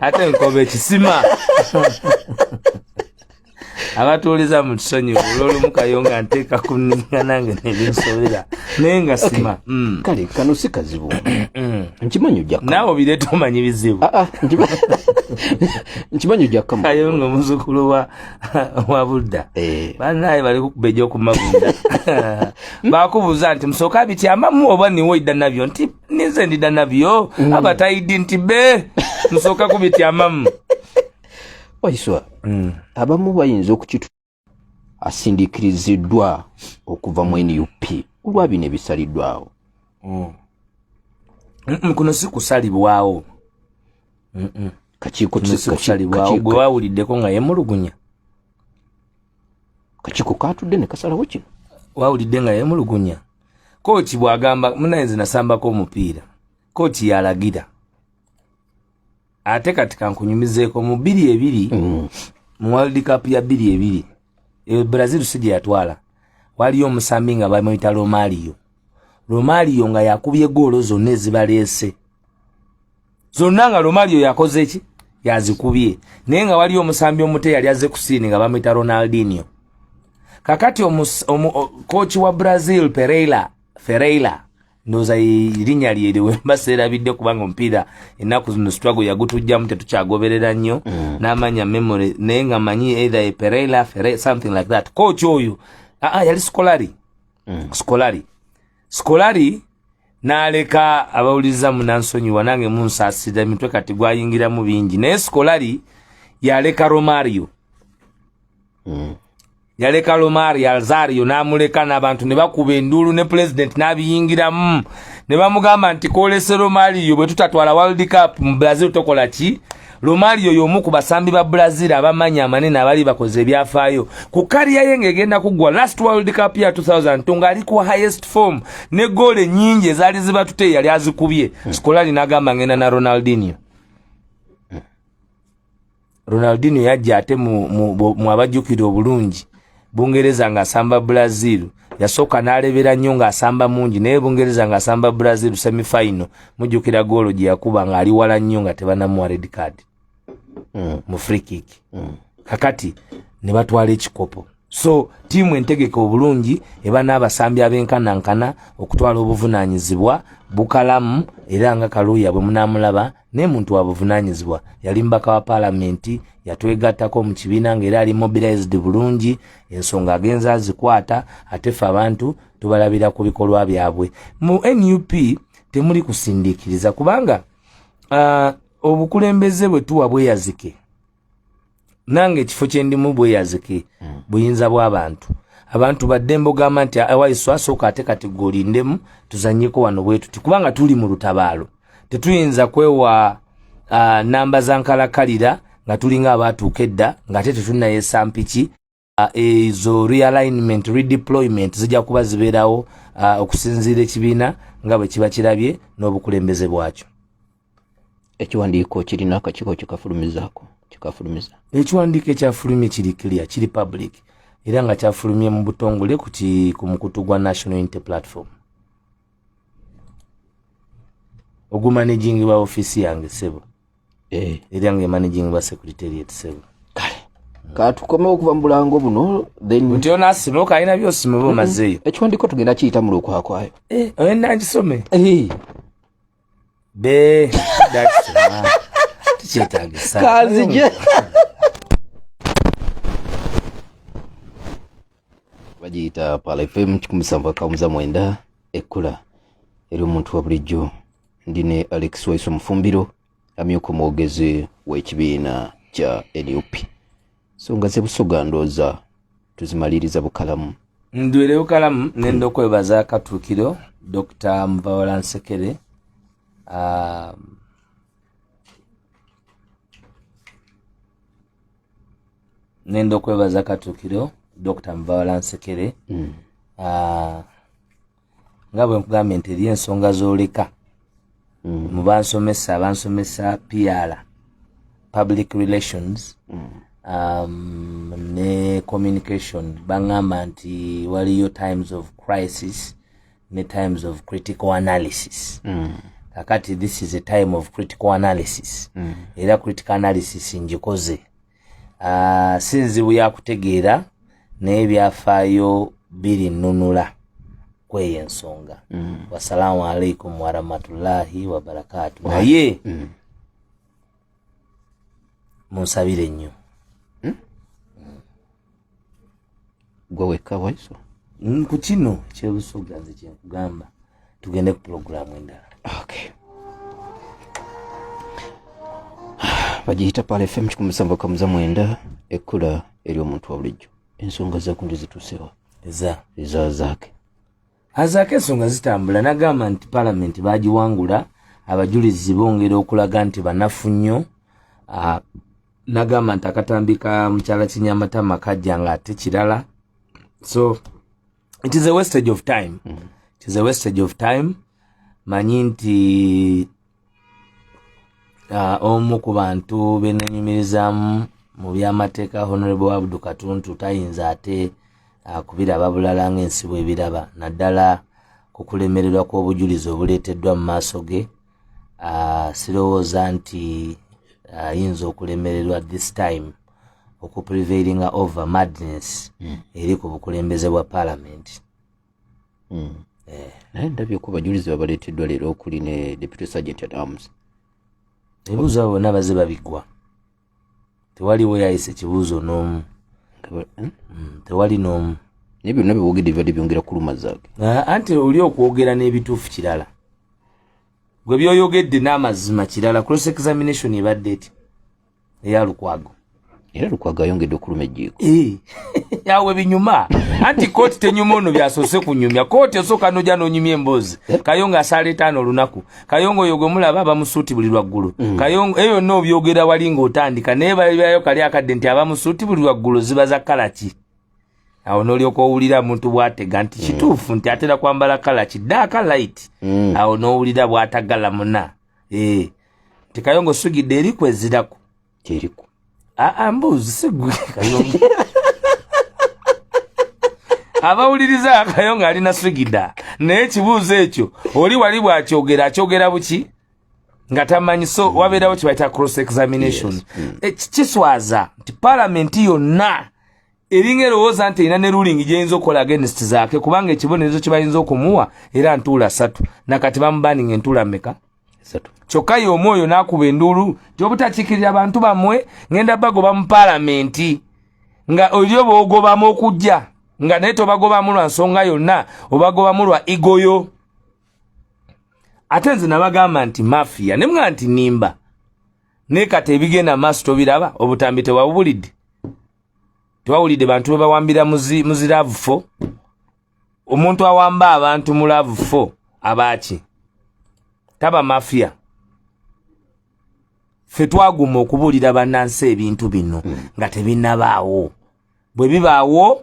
ate nkoba ekisima abatuuliza mu kisonyi olwolumu kayonga nteeka ku ninga nange nebinsobera naye nga sima mm. kale kano si kazibu mm. nkimanyi ojakka naawe obireeta omanyi bizibu ah, ah, nkimanyi ojakkamu kayonga omuzukulu wa wabudda eh. banaye bali kukubeja okumagunda bakubuuza nti musooka abityambamu oba niwo idda nabyo nti ninze ndidda nabyo mm. abatayiddi nti be musooka kubityambamu waiswa mm. abamu bayinza okukitu asindikiriziddwa okuva mu nup kulwa bino ebisaliddwawo mm. kuno si kusalibwawo kakiiko kisikusalibwawo gwe wawuliddeko nga yemulugunya kakiiko katudde ne kasalawo kino wawulidde nga yemulugunya kooti bwagamba munaye nze nasambako omupiira kooti yalagira ate kati kankunyumizeeko mu biri ebiri mm. mu world cup ya biri ebiri e, brazil si gye yatwala waliyo omusambi nga bamuyita romario romario nga yakubye goolo zonna ezibaleese zonna nga lomalio yakoze ki yazikubye naye nga waliyo omusambi omute yali azze ku siini nga bamwita ronaldinio kakati kooki wa brazil pereira fereira ndoza irinya lyere wemba sera bidde kubanga mpira enaku zino struggle yagutujja mute tukyagoberera nnyo mm. namanya memory naye nga manyi either a perela fere something like that coach oyo ah, ah yali skolari mm. skolari sikolari n'aleka abawuliriza munansonyiwa nange munsaasira emitwe kati gwayingiramu bingi naye sikolari yaleka romario mm. yaleka lomari alzario n'amuleka n'abantu ne bakuba enduulu ne pulezidenti n'abiyingiramu ne bamugamba nti kolese romario bwe tutatwala world cup mu brazil tokola ki Romario y'omu ku basambi ba Brazil abamanya amanene abali bakoze ebyafaayo ku kariya ye ng'egenda kuggwa last world cup ya 2002 ng'ali ku highest form ne goolo ennyingi ezaali zibatute yali azikubye hmm. sikolali n'agamba ng'enda na ronaldinio ronaldinio yajja ate mu abajjukira obulungi bungereza ng'asamba brazil yasooka n'alebera nnyo ng'asamba mungi naye bungereza ng'asamba brazil semifinal mujjukira goolo gye yakuba ng'ali wala nnyo nga tebanamuwa red card mm. mu freekik mm. kakati ne batwala ekikopo so tiimu entegeka obulungi eba n'abasambi abenkanankana okutwala obuvunaanyizibwa bukalamu era nga kaluuya bwe munaamulaba naye muntu wabuvunanyizibwa yali mbaka wa palamenti yatwegattako mu kibiina nga era ali mobilized bulungi ensonga agenza azikwata ate fe abantu tubalabira ku bikolwa byabwe mu nup temuli kusindikiriza kubanga uh, obukulembeze bwe tuwa bweyazike nange ekifo kyendimu bweyazike mm. buyinza bwabantu abantu badde mbogamba nti awaiso asooka ate kati golindemu tuzanyeko wano bwetuti kubanga tuli mu lutabaalo tetuyinza kwewa uh, namba zankalakalira nga tulinga abaatuuka edda ngaate tetunayesampiki uh, ezo realignment redeployment zijja kuba zibeerawo uh, okusinziira ekibiina nga bwe kiba kirabye n'obukulembeze bwakyo ekiwandiiko kirina akakiiko kikafulumizaako kikafulumiza ekiwandiiko ekyafulumye kiri clear kiri public era nga kyafulumye mu butongole ku mukutu gwa national unity platform ogumanejingibwa ofiisi yange sebo eh. eryange managing ba secretariat sebo kale katukomewo okuva mu bulango buno nti onasimuka alina byosima oba omazeeyo ekiwandiko tugenda kiyita mu lwokwakwayo eh, oyenda nkisome eh. be tekyetagisa kanzije bagiyita pala fm kikumi sanvu akamuza mwenda ekkula eri omuntu wa bulijjo ndi ne alex waiso mufumbiro amyuka omwogezi w'ekibiina kya nup songa zebusoga ndooza tuzimaliriza bukalamu ndwire bukalamu nenda okwebaza katuukiro dr muvawala nsekere um, nenda okwebaza katuukiro dr muvawala nsekere mm. uh, nga bwe nkugambye nti eriyo ensonga z'oleka mm. mu bansomesa bansomesa pr public relations mm. um, ne communication baŋŋamba nti waliyo times of crisis ne times of critical analysis mm. kakati this is a time of critical analysis mm. era critical analysis ngikoze ah, si nzibu ya kutegeera naye byafaayo biri nnunula kweyo ensonga mm. wasalaamu alaikum warahmatullahi wabarakaatu naye mm. munsabire nnyo mm. gwe wekka waiso mm, ku kino kyebusuga nze kyenkugamba tugende ku pulogulaamu endala okay. bagiyita pale fm kikumi musanvu kamuza mwenda ekkula eri omuntu wa bulijjo ensonga zakuntu zitusewa eza eza zaake azaako ensonga zitambula nagamba nti palamenti bagiwangula abajulizi bongera okulaga nti banafu nnyo ah, nagamba nti akatambi ka mukyala kinyamatama kajja nga ate kirala so it is a wastage of time mm. it is a wastage of time manyi nti uh, omu ku bantu benanyumirizamu mu byamateeka honorable abdu katuntu tayinza ate uh, kubiraba bulala ngaensi bwebiraba naddala ku kulemererwa kw'obujulizi obuleeteddwa mu maaso ge sirowooza nti ayinza okulemererwa this time okuprevailinga over madness hmm. eri ku bukulembeze bwa parliament hmm. eh. naye ndabye ku bajulizi babaleeteddwa leero okuli ne deputy sergent at arms ebibuuzo abo bonna baze babiggwa tewaliwo yayisa ekibuuzo n'omu hmm? hmm, tewali n'omu naye byonna byewogedde bibadde byongera kuluma zaake ah, anti oli okwogera n'ebituufu kirala gwe byoyogedde n'amazima kirala cross examination ebadde eti eya lukwago era lukwago ayongedde okuluma ejjiiko eh. awe binyuma anti kooti tenyuma ono byasoose kunyumya kooti osooka noja nonyumya emboozi eh? kayo nga asaala etaano olunaku kayongo oyo gwemulaba abamusuuti buli lwaggulu mm. kayongo eyo yonna obyogera wali ng'otandika naye balibyayo kali akadde nti abamusuuti buli lwaggulu ziba za kalaki awo nolyoka owulira muntu bwatega nti mm. kituufu nti atera kwambala kalaki daaka light mm. awo nowulira bwatagala muna eh. nti kayongo sugidde eri kweziraku kyeriko aa mbuuzi sigwe kayonga abawuliriza akayonga ali na sigida naye ekibuuzo ekyo oli wali bwakyogera akyogera buki nga tamanyi so mm. wabeerawo kyebayita cross examination mm. eh, kiswaza nti palamenti yonna eringa erowooza nti erina ne ruling gyeyinza okukola against zaake kubanga ekibonerezo kyebayinza okumuwa era ntuula satu nakati bamubaninga entuula meka kyokka ye omu oyo n'akuba enduulu gyobutakiikirira bantu bammwe ngenda bagoba mu palamenti nga oli oba ogobamu okujja nga naye tobagobamu lwa nsonga yonna obagobamu lwa igoyo ate nze nabagamba nti mafiya ne mga nti nimba naye kati ebigenda maaso tobiraba obutambi tewabubulidde tewawulidde bantu bwe bawambira muziravu fo omuntu awamba abantu mu laavu fo abaaki taba mafiya ffe twaguma okubuulira bannansi ebintu bino hmm. nga tebinabaawo bwe bibaawo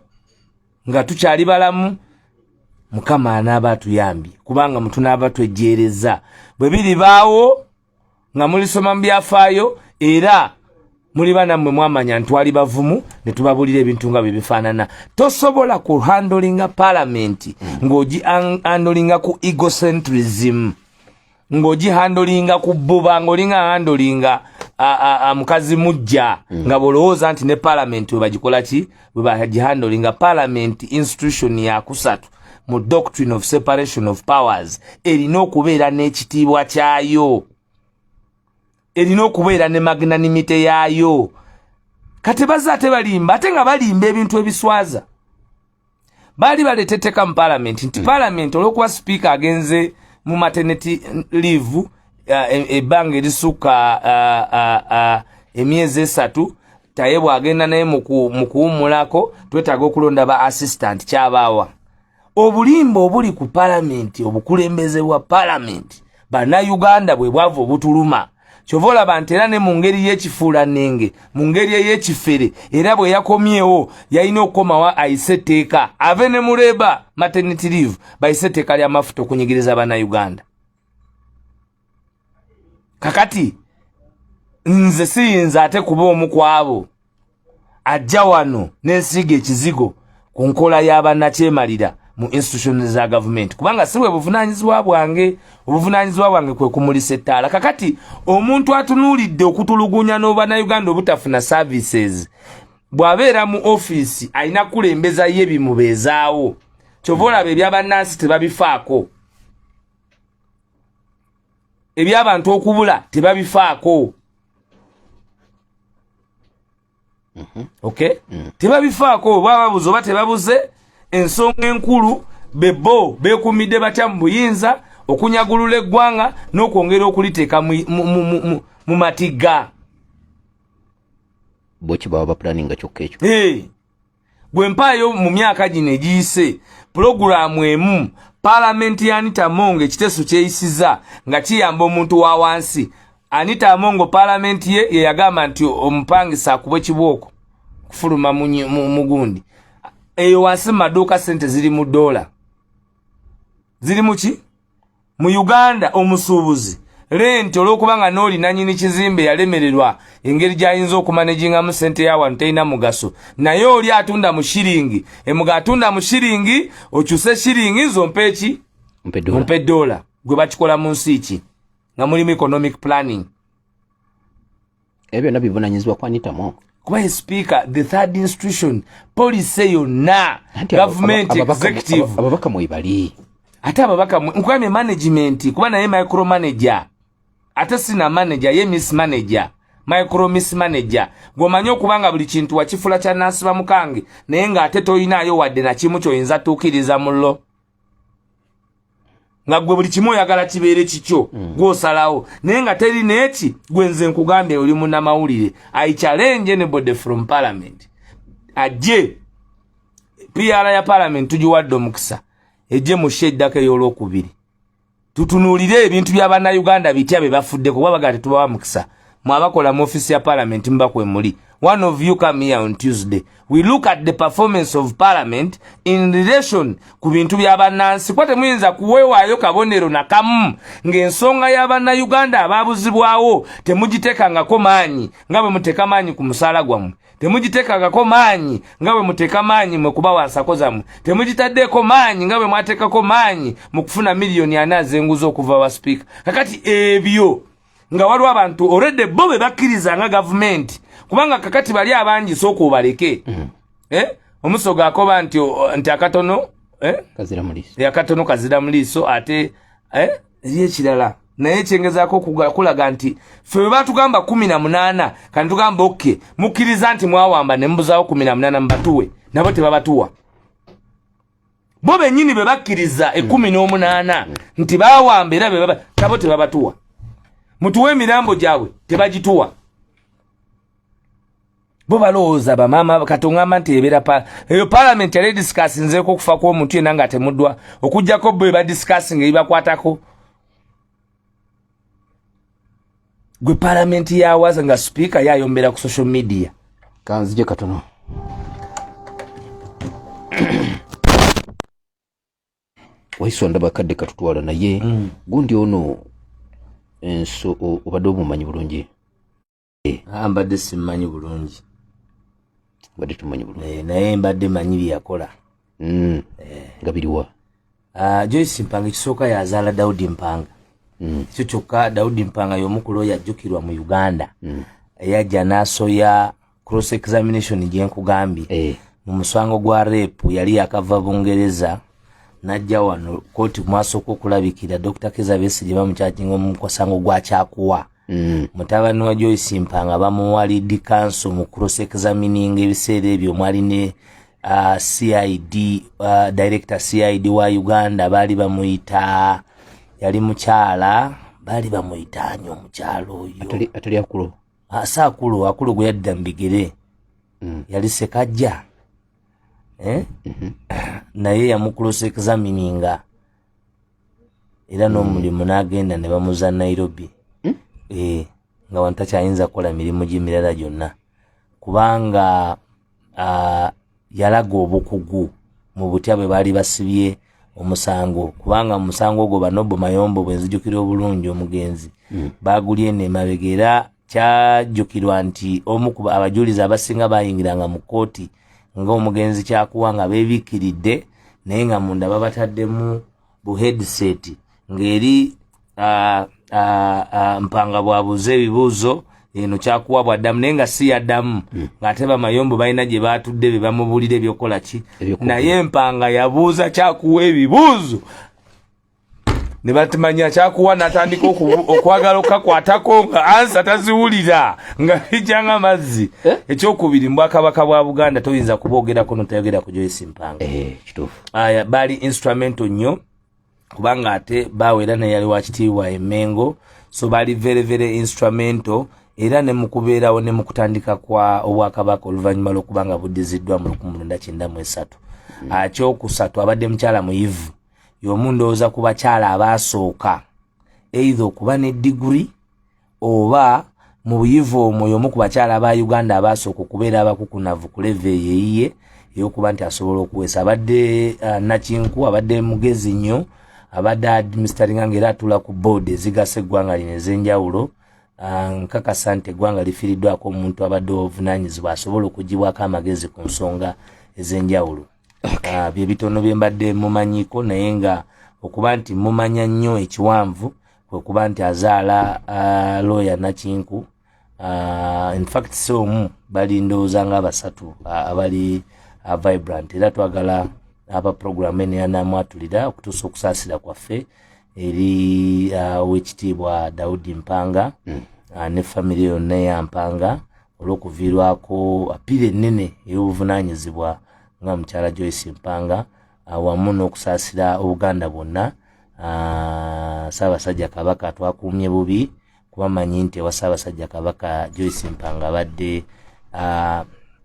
nga tukyali balamu mukama anaaba atuyambye kubanga mutunaaba twejjeereza bwe biribaawo nga mulisoma mu byafaayo era muliba nammwe mwamanya ntwali bavumu ne tubabuulira ebintu nga bye bifaanana tosobola ku handolinga palamenti ng'ogi handolinga ku egocentrism ng'ogi handolinga ku bbuba ng'olinga handolinga mukazi mujja nga bw'olowooza nti ne palamenti we bagikola ki bwebagihandolinga parliament institution yakusatu mu doctrine of separation of powers erina okubeera n'ekitiibwa kyayo erina okubeera ne magnanimite yaayo kati bazze ate balimba ate nga balimba ebintu ebiswaza baali baleeta etteeka mu palamenti nti hmm. palamenti olwokuba sipiika agenze mu mateneti liivu e, ebbanga erisukka emyezi esatu taye bwagenda naye mu kuwummulako twetaaga okulonda ba assistant kyabaawa obulimba obuli ku palamenti obukulembeze bwa palamenti bannayuganda bwe bwava obutuluma kyova olaba nti era ne mu ngeri y'ekifuulannenge mu ngeri ey'ekifere era bwe yakomyewo yalina okukomawo ayise etteeka ave ne mureba maternity leave bayise etteeka ly'amafuta okunyigiriza bannayuganda kakati nze siyinza ate kuba omu kwabo ajja wano nensiiga ekizigo ku nkola y'abannakyemalira mu institution za gavumenti kubanga si bwe buvunaanyizibwa bwange obuvunaanyizibwa bwange kwe kumulisa ettaala kakati omuntu atunuulidde okutulugunya n'obannayuganda obutafuna services bw'abeera mu ofiisi alina kukulembeza ye bimubeezaawo kyova olaba ebya bannansi tebabifaako ebyabantu okubula tebabifaako mhm. ok mm. tebabifaako oba babuze oba tebabuze ensonga enkulu bebo bekumidde batya mu buyinza okunyagulula eggwanga n'okwongera okuliteeka mu matigga bwekibaba bapulaninga kyokka ekyo gwe mpaayo mu myaka gino egiyise pulogulaamu emu palamenti ya anita amongo ekiteeso kyeyisiza nga kiyamba omuntu wa wansi anita amongo palamenti ye yeyagamba nti omupangisa akuba ekibooko kufuluma mugundi eyo wansi mu maduuka sente ziri mu doola ziri muki mu uganda omusuubuzi lenti olwokuba nga nooli nanyini kizimbe yalemererwa engeri gyayinza okumanejingamu sente ya wano terina mugaso naye oli atunda mu shiringi emuga atunda mu shiringi okyuse shiringi nzompa eki ompa edola gwe bakikola mu nsi ki nga mulimu economic planning ebyo byonna bivunanyizibwa ku anita mwongo kuba ye speaker the third institution policy yonna government executive ababaka mwebali ate ababaka nkugambye management kuba naye micro manager ate sina manager ye miss manager micro miss manager gwomanyi okuba nga buli kintu wakifula kya nasiba mukange naye nga ate toyinaayo wadde nakimu kyoyinza tuukiriza mullo nga gwe buli kimu oyagala kibeere kikyo mm. gwosalawo naye nga teri neki gwenze nkugambye oli munamawulire i challenge anybody from parliament ajje pr ya parliament tugiwadde omukisa ejje mushe eddako eyolwokubiri tutunuulire ebintu bya bannayuganda bitya bye bafudde kuba bagaa tetubawa mukisa mwabakola mu ofisi ya parliament mubakwemuli one of you come here on tuesday we look at the performance of parliament in relation ku bintu bya bannansi kuba temuyinza kuweewaayo kabonero nakamu ng'ensonga ya bannayuganda abaabuzibwawo temugiteekangako maanyi nga bwe muteeka maanyi ku musaala gwammwe temugiteekangako maanyi nga bwe muteeka maanyi mwe kuba wansako zammwe temugitaddeeko maanyi nga bwe mwateekako maanyi mu kufuna miliyoni ana azenguza okuva wa sipiika kakati ebyo nga waliwo abantu olwedde bo be bakkiriza nga gavumenti kubanga kakati bali abangi sooka obaleke mm. eh? omusogo akoba nti nti akatono eh? eh, akatono kazira mu liiso ate eh? eri ekirala naye kyengezako kulaga nti fe bwe batugamba kumi na munaana kani tugamba oke mukkiriza nti mwawamba ne mubuzawo kumi na munaana mubatuwe nabo tebabatuwa bo benyini be bakkiriza ekumi n'omunaana nti bawamba era bebaba nabo tebabatuwa mutuwa emirambo gyabwe tebagituwa bo balowooza bamaama katongamba nti ebeera pa eyo palamenti yali edisikasinzeeko okufa kw'omuntu yena nga temuddwa okugjako bo ebadisikasinga ebibakwatako gwe palamenti yawaza nga sipiika yayombera ku social media kanzije katono waiswa ndaba kadde katutwala naye mm. gundi ono enso obadde obumanyi bulungi eh. ah, mbadde simumanyi bulungi mbadde tumanyi bulungi eh, naye mbadde manyi byeyakola mm. eh. nga biriwa ah, joyce mpanga ekisooka yazaala daudi mpanga mm. ekyo kyokka daudi mpanga yomukulu oyo ajjukirwa mu uganda mm. eyajja nasoya cross examination gyenkugambye mu musango gwa repu yali yakava bungereza najja wano kooti mwasooka okulabikira dr kizabesi gye bamukyajinga omukosango gwakyakuwa Mm. mutabani wa joyce mpanga bamuwa lidi kanso mu cross examining ebiseera ebyo mwali ne uh, cid uh, director cid wa uganda baali bamuyita yali mukyala baali bamuyita ani omukyala oyo atali akulu ah, si akulu akulu gwe yadda mu bigere mm. yali sekajja eh? mm -hmm. naye yamucross examininga era n'omulimu mm. n'agenda ne bamuza nairobi mm? e, nga wano takyayinza kukola mirimu gyemirala gyonna kubanga uh, yalaga obukugu mu butya bwe baali basibye omusango kubanga musango ogwo banobo mayombo bwenzijukira obulungi omugenzi mm. bagulye nemabega era kyajjukirwa nti omu ku abajulizi abasinga bayingiranga mu kkooti ng'omugenzi kyakuwa nga beebikkiridde naye nga munda babataddemu bu headset ng'eri mpanga bwabuuza ebibuuzo eno kyakuwa bwaddamu naye nga si yaddamu hmm. ng'ate bamayombo balina gye baatudde be bamubuulira ebyokukola ki naye mpanga yabuuza kyakuwa ebibuuzo ne batimanya kyakuwa natandika okwagala okakwatako nga ansa taziwulira nga ijanga mazzi eh? ekyokubiri mbwakabaka bwa buganda toyinza kubogerako notayogera ku joyce mpanga eh, aya baali instrumental nnyo kubanga ate bawera naye yali wakitiibwa emengo so baali very very instrumental era ne mukubeerawo ne mukutandika kwa obwakabaka oluvannyuma lwokubanga buddiziddwa mu lukumulunda kyenda mu esatu hmm. akyokusatu abadde mukyala muyivu yomu ndowoza ku bakyala abaasooka eitha okuba ne diguri oba mu buyivu omwo yomu ku bakyala ba uganda abaasooka okubeera abakukunavu ku leve yeyiye eyokuba nti asobola okuweesa abadde uh, nakinku abadde mugezi nnyo abadde administeringa nga era atula ku board ezigasa eggwanga lino ez'enjawulo uh, nkakasa nti eggwanga lifiiriddwako omuntu abadde obuvunanyizibwa asobola okugibwako amagezi ku nsonga ez'enjawulo okay. uh, ah, bye bitono bye mbadde mumanyiko naye nga okuba nti mumanya nnyo ekiwanvu kwekuba nti azaala uh, looya nakinku uh, infact si omu bali ndowooza nga abasatu uh, abali uh, vibrant era twagala aba program eno yanamwatulira okutuusa okusaasira kwaffe eri uh, owekitiibwa daudi mpanga mm. uh, ne famiry yonna eyampanga olw'okuviirwako apiira ennene ey'obuvunaanyizibwa nga mukyala Joyce Mpanga awamu n'okusaasira Obuganda bwonna Ssaabasajja Kabaka twakuumye bubi kuba manyi nti ewa Ssaabasajja Kabaka Joyce Mpanga abadde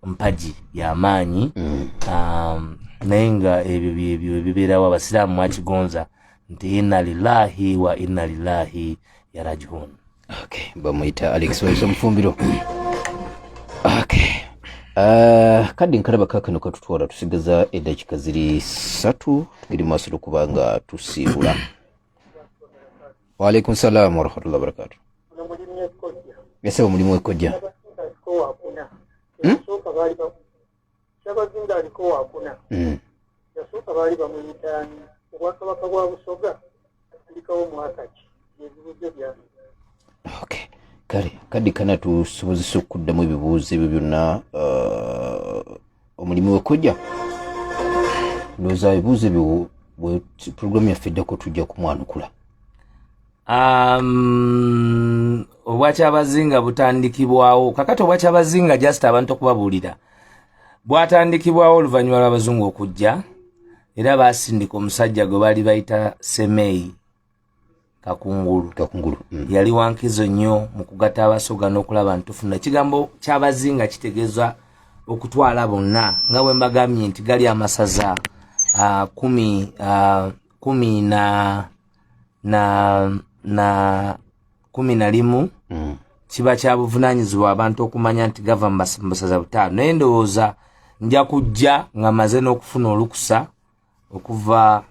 mpagi y'amaanyi mm. um, naye nga ebyo byebyo ebibeerawo abasiraamu mwakigonza nti inna lillahi wa inna lillahi yarajihuni Okay, bamuyita Alex Waiso Mufumbiro. Okay. Uh, kadi nkalaba kakano katutwala tusigaza edakika ziri satu tugiri maaso lwokuba nga tusiibula waalaikum salaamu warahmatullah wabarakatu esaba mulimu ekojja hmm? kyabazinga aliko wakuna hmm. yasooka baali bamuyitaani obwakabaka bwa busoga atandikawo mwaka ki ebibuzo byange okay kale kadi kana tusobozesa okuddamu ebibuuzo ebyo byonna uh, omulimu wekujja ndowooza ebibuuzo ebyo pulogulaamu yaffe eddako tujja kumwanukula um, obwakyabazinga butandikibwawo kakati obwakyabazinga just abantu okubabuulira bwatandikibwawo oluvannyuma lw'abazungu okujja era baasindika omusajja gwe baali bayita semeyi kakungulu kakungulu mm. yali wankizo nnyo mu kugatta abasoga n'okulaba ntufuna ekigambo kyabazinga kitegeeza okutwala bonna nga bwe mbagambye nti gali amasaza uh, kumi uh, kumi na na na kumi na limu mm. kiba kya buvunanyizibwa abantu okumanya nti gava mubasaza butaano naye ndowooza nja kujja nga maze n'okufuna olukusa okuva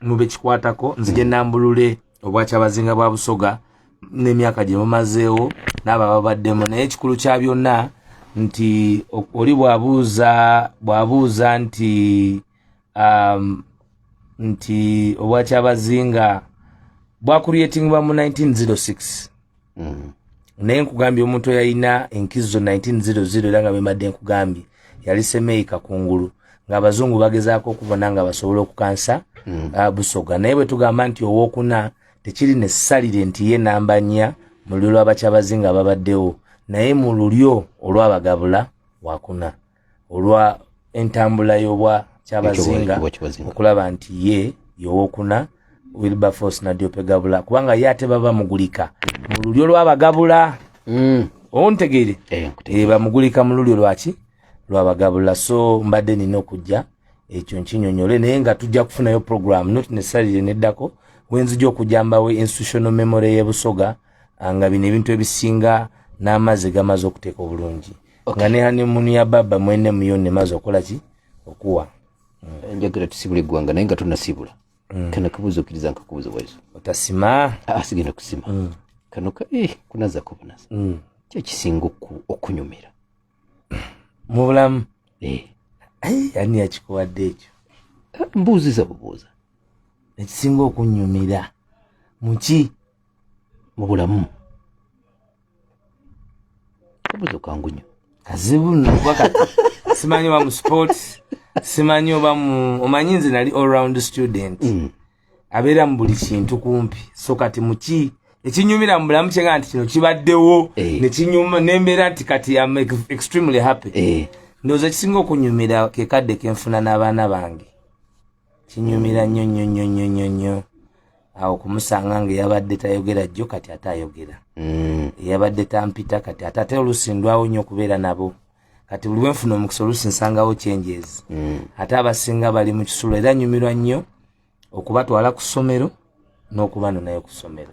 mu bekikwatako nzije mm. nambulule obwakyabazinga bwa busoga n'emyaka gye mumazeewo n'abo ababaddemu naye ekikulu kya byonna nti oli bwabuuza bwabuuza nti um, nti obwakyabazinga bwakuryetingibwa mu 1906 mm. naye nkugambye omuntu eyalina enkizo 1900 era nga bemadde nkugambye yali semeyi kakungulu ng'abazungu bagezaako okubona nga basobola okukansa mm. uh, busoga naye bwe tugamba nti owokuna tekiri nesalire nti ye namba nnya mu lulyo lwabakyabazinga babaddewo naye mu lulyo olwabagabula wakuna olwa entambula y'obwa kyabazinga okulaba nti ye yowokuna wilberforce nadiope gabula kubanga ye ate baba mugulika mu lulyo lwabagabula mm. ontegeere eh, eh, bamugulika mu lulyo lwaki lwabagabula so mbadde nina okujja ekyo nkinyonyole naye nga tujja kufunayo program not necessarily neddako wenzija okujambawo institutional memory yebusoga ah, nga bino ebintu ebisinga n'amazzi gamaze okuteeka obulungi nga ne hanemunu ya baba mwene muyo nemaze okola ki okuwa mm. njagala tusibule eggwanga naye nga tunasibula mm. kana kabuuza okkiriza nkakubuuza bwezo otasima ah, sigenda kusima mm. kano ka eh, kunaza kubunaza kyekisinga okunyumira mu bulamu eh. ani yakikuwadde ekyo ah, mbuuziza bubuuza ekisinga okunyumira muki mu bulamu kabuzo kangu nyo kazibu nnokuba kati simanyi oba mu sports simanyi oba mu omanyi nze nali all round student mm. abeera mu buli kintu kumpi so kati muki ekinyumira mu bulamu kyenga nti kino kibaddewo eh. nekinyuma nembeera nti kati am extremely happy eh. ndowooza ekisinga okunyumira kekadde kenfuna n'abaana bange kinyumira nnyo nnyo nnyo nnyo nnyo nnyo awo kumusanga nga eyabadde tayogera jjo kati ate ayogera mm. eyabadde tampita kati ate ate oluusi ndwawo nnyo okubeera nabo kati buli wenfuna omukisa oluusi nsangawo kyenjezi mm. ate abasinga bali mu kisulo era nyumirwa nnyo okubatwala ku ssomero n'okuba nonayo ku ssomero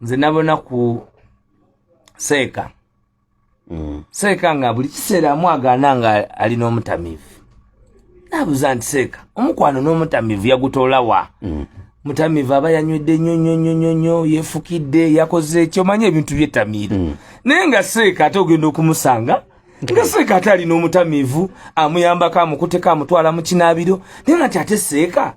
nze nabona ku seeka mm. seeka nga buli kiseera amwagaana nga ali n'omutamiivu nabuuza nti seeka omukwano n'omutamiivu yagutoola wa mm. mutamiivu aba yanywedde nnyo nnyo nnyo nnyo nnyo yeefukidde yakoze ki omanyi ebintu byetamiira mm. naye nga seeka ate ogenda okumusanga nga seeka ate alina omutamiivu amuyambako amukuteko amutwala mu kinaabiro naye nga ti ate seeka